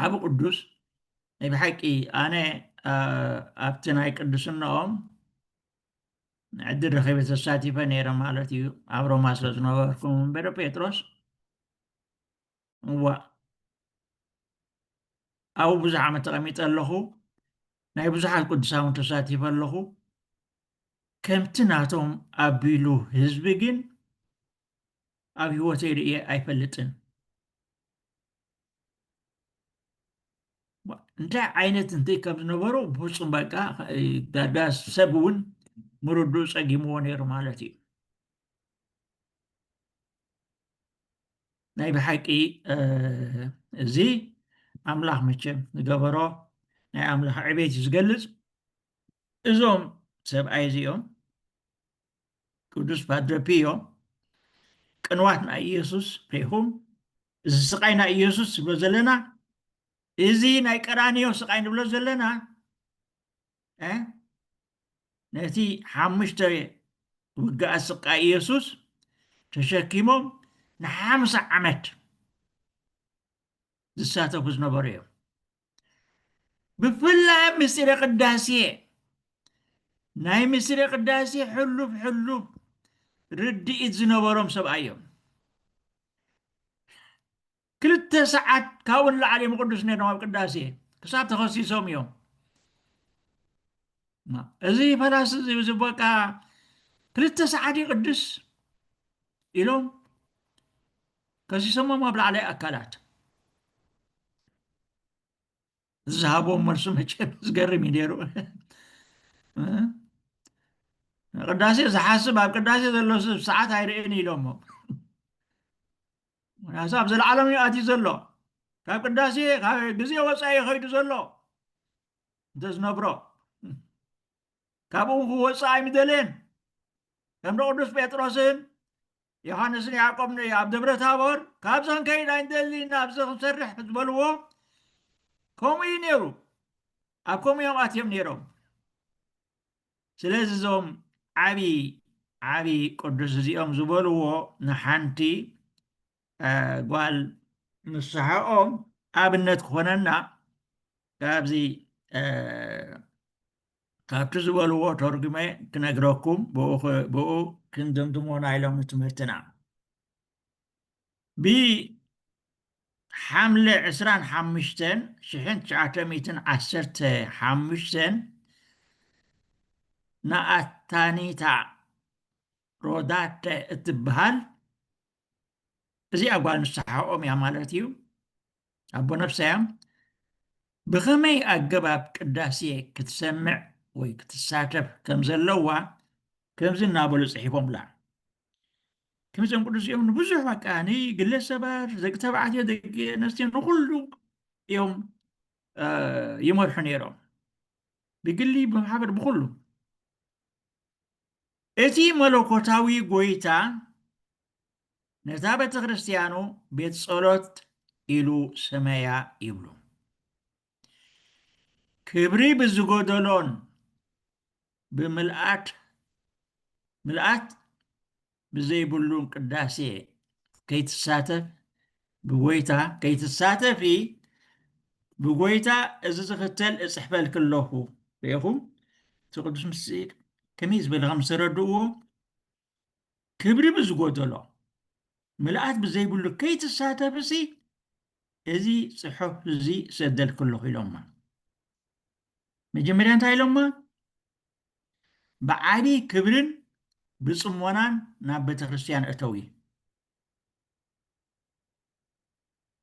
ዓብ ቅዱስ ናይ ብሓቂ ኣነ ኣብቲ ናይ ቅዱስናኦም ዕዲ ረኺበ ተሳቲፈ ነይረ ማለት እዩ ኣብ ሮማ ስለ ዝነበርኩ እምበዶ ጴጥሮስ እዋ ኣብኡ ብዙሕ ዓመት ተቐሚጠ ኣለኹ ናይ ብዙሓት ቅዱሳውን ተሳቲፈ ኣለኹ ከምቲ ናቶም ኣቢሉ ህዝቢ ግን ኣብ ህይወተይ ርእየ ኣይፈልጥን እንታይ ዓይነት እንታይ ከም ዝነበሩ ብፍፁም በቃ ዳዳ ሰብ እውን ምርድኡ ፀጊምዎ ነይሩ ማለት እዩ ናይ ብሓቂ እዚ ኣምላኽ መቸም ዝገበሮ ናይ ኣምላኽ ዕቤት እዩ ዝገልፅ እዞም ሰብኣይ እዚኦም ቅዱስ ፓድረ ፒዮ ቅንዋት ናይ ኢየሱስ ፔኹም እዚ ስቃይ ናይ ኢየሱስ ዝብሎ ዘለና እዚ ናይ ቀራንዮ ስቃይ ንብሎ ዘለና ነቲ ሓሙሽተ ውግኣ ስቃይ ኢየሱስ ተሸኪሞም ንሓምሳ ዓመት ዝሳተፉ ዝነበሩ እዮም ብፍላይ ምስጢረ ቅዳሴ ናይ ምስጢረ ቅዳሴ ሕሉፍ ሕሉፍ ርድኢት ዝነበሮም ሰብኣይ እዮም ክልተ ሰዓት ካብኡ ንላዕሊ እዮም ቅዱስ ነይሮም ኣብ ቅዳሴ ክሳብ ተኸሲሶም እዮም እዚ ፈላሲ እዚ በቃ ክልተ ሰዓት ይቅድስ ኢሎም ከሲሰሞም ኣብ ላዕላይ ኣካላት ዝሃቦም መልሱ መቸም ዝገርም እዩ ነይሩ ቅዳሴ ዝሓስብ ኣብ ቅዳሴ ዘሎ ስብ ሰዓት ኣይርእን ኢሎሞ ምክንያቱ ኣብ ዘለዓለም እዩ ኣትዩ ዘሎ ካብ ቅዳሴ ካብ ግዜ ወፃኢ ይኸይዱ ዘሎ እንተዝነብሮ ካብኡ ክወፅእ ኣይምደልን ከም ቅዱስ ጴጥሮስን ዮሃንስን ያዕቆብን እዩ ኣብ ደብረ ታቦር ካብዚ ክንከይድ ኣይንደሊ ኢና ኣብዚ ክንሰርሕ ዝበልዎ ከምኡ እዩ ነይሩ ኣብ ከምኡ እዮም ኣትዮም ነይሮም ስለዚ እዞም ዓብዪ ዓብዪ ቅዱስ እዚኦም ዝበልዎ ንሓንቲ ጓል ንስሐኦም ኣብነት ክኾነና ካብዚ ካብቲ ዝበልዎ ተርጉመ ክነግረኩም ብኡ ክንድምድሞ ናይ ሎሚ ትምህርትና ብሓምለ ዕስራን ሓሙሽተን ሽሕን ትሽዓተ ሚእትን ዓሰርተ ሓሙሽተን ንኣታኒታ ሮዳተ እትብሃል እዚኣ ጓል ንስሓኦም እያ ማለት እዩ ኣቦ ነፍሳያ ብኸመይ ኣገባብ ቅዳሴ ክትሰምዕ ወይ ክትሳተፍ ከም ዘለዋ ከምዚ እናበሉ ፅሒፎምላ ከምዚኦም ቅዱስ እዮም ንብዙሕ በቃ ንግለ ሰባት ደቂ ተባዕትዮ ደቂ ኣንስትዮ ንኩሉ እዮም ይመርሑ ነይሮም ብግሊ ብማሕበር ብኩሉ እቲ መለኮታዊ ጎይታ ነታ ቤተክርስቲያኑ ቤት ጸሎት ኢሉ ሰመያ ይብሉ። ክብሪ ብዝጎደሎን ብምልኣት ምልኣት ብዘይብሉ ቅዳሴ ከይትሳተፍ ብጎይታ ከይትሳተፊ ብጎይታ እዚ ዝኽተል እጽሕፈልኪ ኣለኹ ርኢኹም እቲ ቅዱስ ምስጢር ከመይ ዝበለ ከም ዝተረድእዎ ክብሪ ብዝጎደሎ ምልኣት ብዘይብሉ ከይትሳተፍሲ እዚ ፅሑፍ እዚ ሰደልክለኹ ኢሎማ መጀመርያ እንታይ ኢሎማ ብዓቢ ክብርን ብጽሞናን ናብ ቤተክርስትያን እተዊ።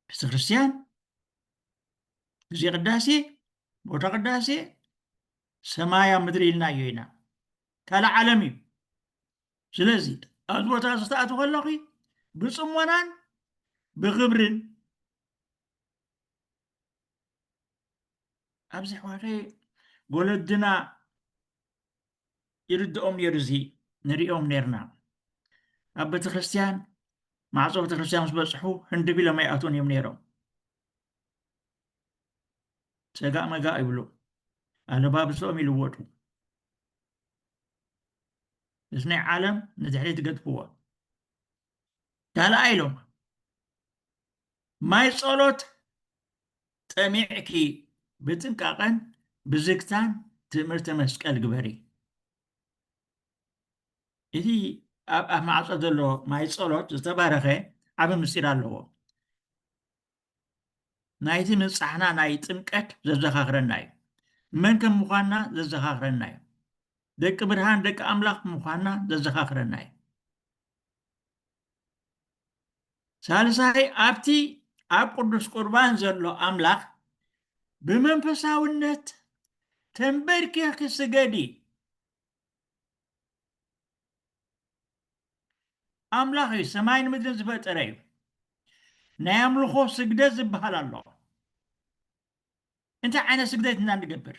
ቤተክርስትያን ግዜ ቅዳሴ፣ ቦታ ቅዳሴ፣ ሰማይ ኣብ ምድሪ ኢልናዮ ኢና። ካልእ ዓለም እዩ። ስለዚ ኣብዚ ቦታ እዚ ክትኣትው ከለኺ ብጽሞናን ብክብርን ኣብዚ ኣሕዋተይ ወለድና ይርድኦም ነይሩ እዚ ንሪኦም ነርና ኣብ ቤተክርስትያን ማዕፆ ቤተክርስትያን ምስ በፅሑ ህንዲ ቢሎም ኣይኣትውን እዮም ነይሮም ፀጋእ መጋእ ይብሉ ኣለባብሶኦም ይልወጡ እዚ ናይ ዓለም ንድሕሪ ትገድፍዎ ካልኣ ኢሎም ማይ ጸሎት ጠሚዕኪ ብጥንቃቐን ብዝግታን ትእምርተ መስቀል ግበሪ። እቲ ኣብ ኣፍ ማዕጾ ዘሎ ማይ ጸሎት ዝተባረኸ ዓብ ምስጢር ኣለዎ። ናይቲ ምብጻሕና ናይ ጥምቀት ዘዘኻኽረና እዩ። መን ከም ምዃንና ዘዘኻኽረና እዩ። ደቂ ብርሃን ደቂ ኣምላኽ ምዃንና ዘዘኻኽረና እዩ። ሳልሳይ ኣብቲ ኣብ ቅዱስ ቁርባን ዘሎ ኣምላኽ ብመንፈሳውነት ተንበርኪኽኪ ስገዲ ኣምላኽ እዩ ሰማይን ምድርን ዝፈጠረ እዩ ናይ ኣምልኾ ስግደት ዝበሃል ኣሎ እንታይ ዓይነት ስግደት ኢና ንገብር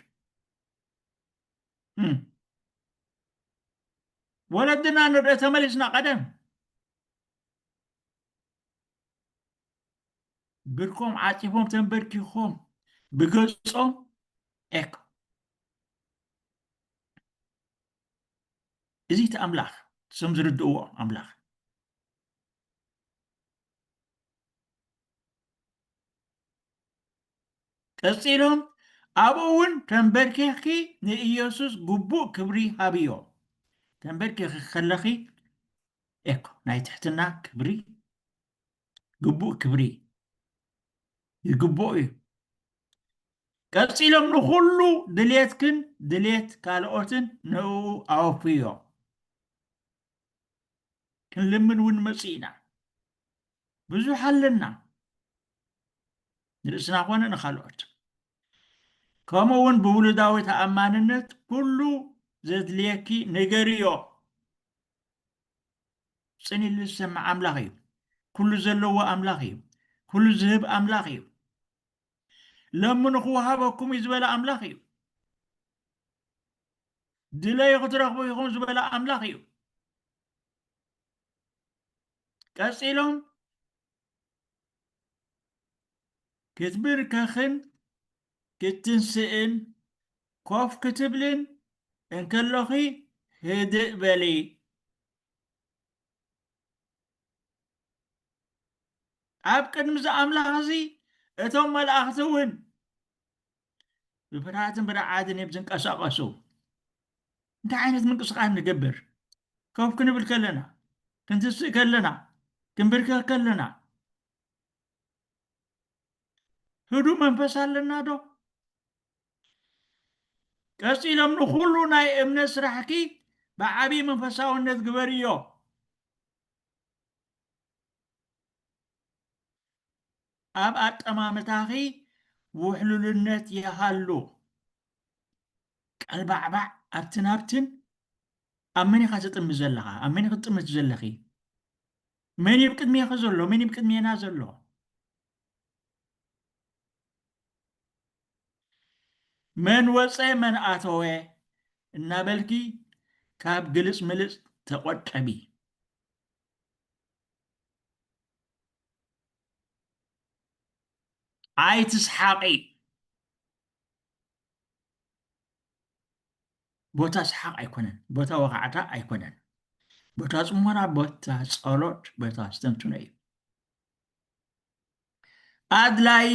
ወለድና ንርእ ተመሊስና ቀደም ብርኮም ዓፂፎም ተንበርኪኾም ብገጾም ኤክ እዚ እቲ ኣምላኽ ስም ዝርድእዎ ኣምላኽ ቀጺሉ ኣብኡ እውን ተንበርኪኽኪ ንኢየሱስ ግቡእ ክብሪ ሃብዮ። ተንበርኪኽኪ ከለኺ ኤኮ ናይ ትሕትና ክብሪ ግቡእ ክብሪ ይግብኦ እዩ። ቀጺሎም ንኹሉ ድሌትክን ድሌት ካልኦትን ንእኡ ኣወፍዮ። ክንልምን እውን ንመጽእ ኢና። ብዙሕ ኣለና። ንርእስና ኮነ ንካልኦት ከምኡ እውን ብውሉዳዊ ተኣማንነት ኩሉ ዘድልየኪ ንገርዮ ፅን ኢሉ ዝሰምዕ ኣምላኽ እዩ ኩሉ ዘለዎ ኣምላኽ እዩ ኩሉ ዝህብ ኣምላኽ እዩ ለምኑ ክወሃበኩም እዩ ዝበለ ኣምላኽ እዩ ድለዩ ክትረኽቡ ኢኹም ዝበለ ኣምላኽ እዩ ቀፂሎም ክትብርከኽን ክትትንስእን ኮፍ ክትብልን እንከሎኺ ህድእ በሊ። ኣብ ቅድሚ እዚ ኣምላኽ እዚ እቶም መላእኽቲ እውን ብፍርሃትን ብርዓድን እዮም ዝንቀሳቐሱ እንታይ ዓይነት ምንቅስቓስ ንገብር ከፍ ክንብል ከለና ክንትስእ ከለና ክንብርከኽ ከለና ህዱ መንፈስ ኣለና ዶ ቀፂሎም ንኩሉ ናይ እምነት ስራሕኪ ብዓብዪ መንፈሳውነት ግበርዮ ኣብ ኣጠማምታኺ ውሕሉልነት ይሃሉ። ቀልባዕባዕ ኣብትን ኣብትን ኣብ መን ኢኻ ትጥምት ዘለኻ? ኣብ መን ኢኺ ትጥምት ዘለኺ? መን እዩ ቅድሜኺ ዘሎ? መን እዩ ቅድሜና ዘሎ? መን ወፀ መን ኣተወ እናበልኪ ካብ ግልፅ ምልፅ ተቆጠቢ። ኣይትስሓቒ ቦታ ሰሓቕ ኣይኮነን ቦታ ወኻዕታ ኣይኮነን ቦታ ፅሞና ቦታ ፀሎት ቦታ ስተንትኖ እዩ ኣድላይ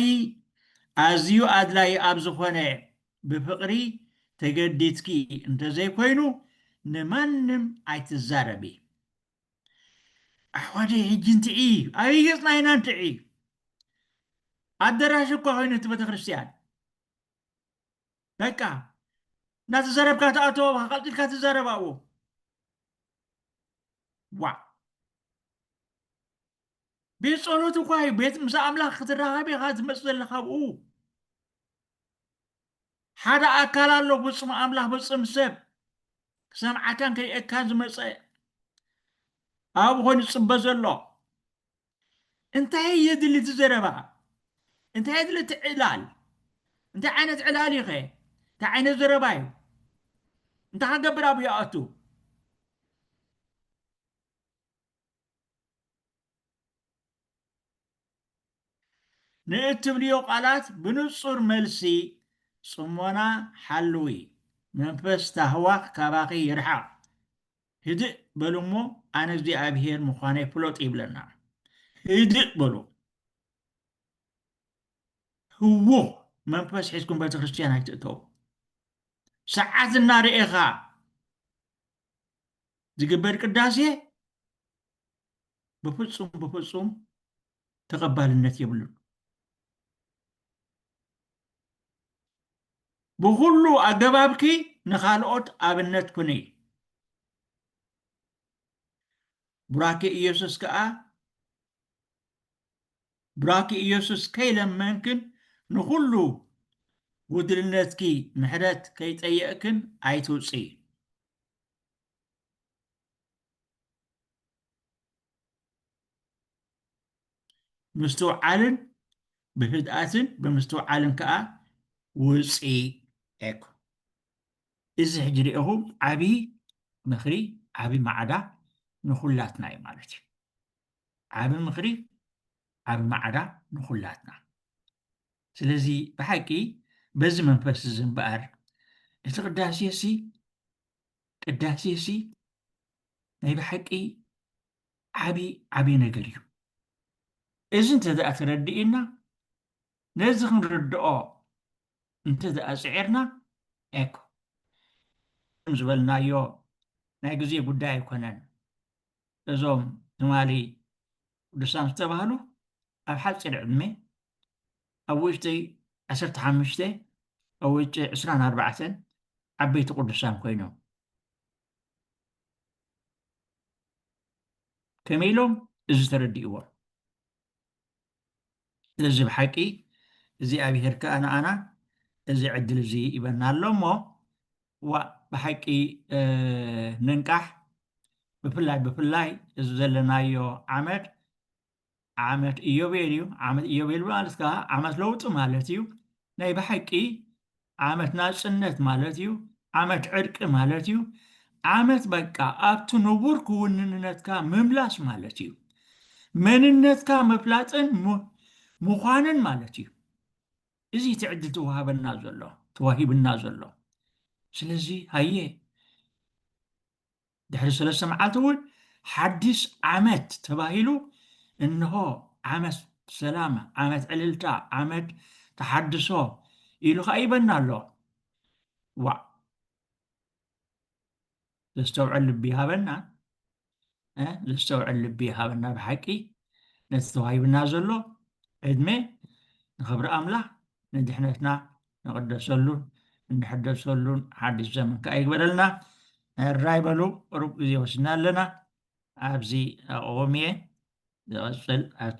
ኣዝዩ ኣድላይ ኣብ ዝኾነ ብፍቕሪ ተገዲትኪ እንተዘይኮይኑ ንማንም ኣይትዛረቢ ኣሕዋተይ ሕጂ እንትዒ ኣበይ ገጽና ኢና እንትዒ ኣደራሽ እኳ ኮይኑ እቲ ቤተክርስትያን በቃ እናተዘረብካ ተኣቶ ቀልጢፍካ ትዛረብ ኣብኡ ዋ ቤት ጸሎት እኳ እዩ ቤት ምስ ኣምላኽ ክትራኸብ ኢኻ ትመጽእ ዘለኻ ኣብኡ ሓደ ኣካል ኣሎ ፍጹም ኣምላኽ ፍጹም ሰብ ክሰምዓካን ክርእየካን ዝመጸ ኣብኡ ኮይኑ ዝጽበ ዘሎ እንታይ የድሊ እቲ ዘረባ እንታይ የድሊ እቲ ዕላል እንታይ ዓይነት ዕላል እዩ ኸ እንታይ ዓይነት ዘረባ እዩ እንታይ ክገብር ኣብኡ ይኣቱ ንእትብልዮ ቃላት ብንጹር መልሲ ጽሞና ሓልዊ መንፈስ ታህዋኽ ካባኺ ይርሓቕ ህድእ በሉ እሞ ኣነ እግዚኣብሄር ምዃነይ ፍለጡ ይብለና ህድእ በሉ ህዉኽ መንፈስ ሒዝኩም ቤተክርስትያን ኣይትእተው ሰዓት እናርኤኻ ዝግበር ቅዳሴ ብፍፁም ብፍፁም ተቐባልነት የብሉን። ብኹሉ ኣገባብኪ ንኻልኦት ኣብነት ኩኒ። ቡራኬ ኢየሱስ ከዓ ቡራኬ ኢየሱስ ከይለመንክን ንኹሉ ጉድልነትኪ ምሕረት ከይጠየእክን ኣይትውፅኢ። ምስትውዓልን ብህድኣትን ብምስትውዓልን ከዓ ውፂ ኤኩ እዚ ሕጂ ሪኢኹም ዓብዪ ምክሪ ዓብዪ ማዕዳ ንኩላትና እዩ ማለት እዩ ዓብ ምክሪ ዓብ ማዕዳ ንኩላትና ስለዚ ብሓቂ በዚ መንፈስ እዚ እምበኣር እቲ ቅዳሴ ሲ ቅዳሴሲ ናይ ብሓቂ ዓቢ ዓቢ ነገር እዩ እዚ እንተ ደኣ ተረዲእና ነዚ ክንርድኦ እንተ ደኣ ጽዒርና ኤኮ ከም ዝበልናዮ ናይ ግዜ ጉዳይ ኣይኮነን እዞም ትማሊ ቅዱሳን ዝተባህሉ ኣብ ሓፂር ዕድሜ ኣብ ውሽጢ ዓሰርተ ሓሙሽተ ኣብ ውሽጢ ዕስራን ኣርባዕተን ዓበይቲ ቅዱሳን ኮይኖም ከመይ ኢሎም እዚ ተረዲእዎም እዚ ብሓቂ እግዚኣብሄር ከኣ ንኣና እዚ ዕድል እዚ ይበና ኣሎ እሞ ዋእ ብሓቂ ንንቃሕ ብፍላይ ብፍላይ እዚ ዘለናዮ ዓመት ዓመት ኢዮቤል እዩ ዓመት ኢዮቤል ማለት ከዓ ዓመት ለውጢ ማለት እዩ ናይ ብሓቂ ዓመት ናጽነት ማለት እዩ ዓመት ዕርቂ ማለት እዩ ዓመት በቃ ኣብቲ ንቡር ክውንንነትካ ምምላስ ማለት እዩ መንነትካ ምፍላጥን ምዃንን ማለት እዩ እዚ እቲ ዕድል ተዋሃበና ዘሎ ተዋሂብና ዘሎ ስለዚ ሃየ ድሕሪ ሰለስተ መዓልቲ እውን ሓዲስ ዓመት ተባሂሉ እንሆ ዓመት ሰላም፣ ዓመት ዕልልታ፣ ዓመት ተሓድሶ ኢሉ ከዓ ይበና ኣሎ። ዋእ ዘስተውዕል ልቢ ይሃበና ዘስተውዕል ልቢ ይሃበና ብሓቂ ነቲ ተዋሂብና ዘሎ ዕድመ ንኽብሪ ኣምላኽ ንድሕነትና ንቕደሰሉን እንሕደሰሉን ሓድሽ ዘመን ከዓ ይግበረልና ራይ በሉ ቁሩብ ግዜ ወስና ኣለና ኣብዚ ኣቕዎም እየ ዝቐፅል ኣብቲ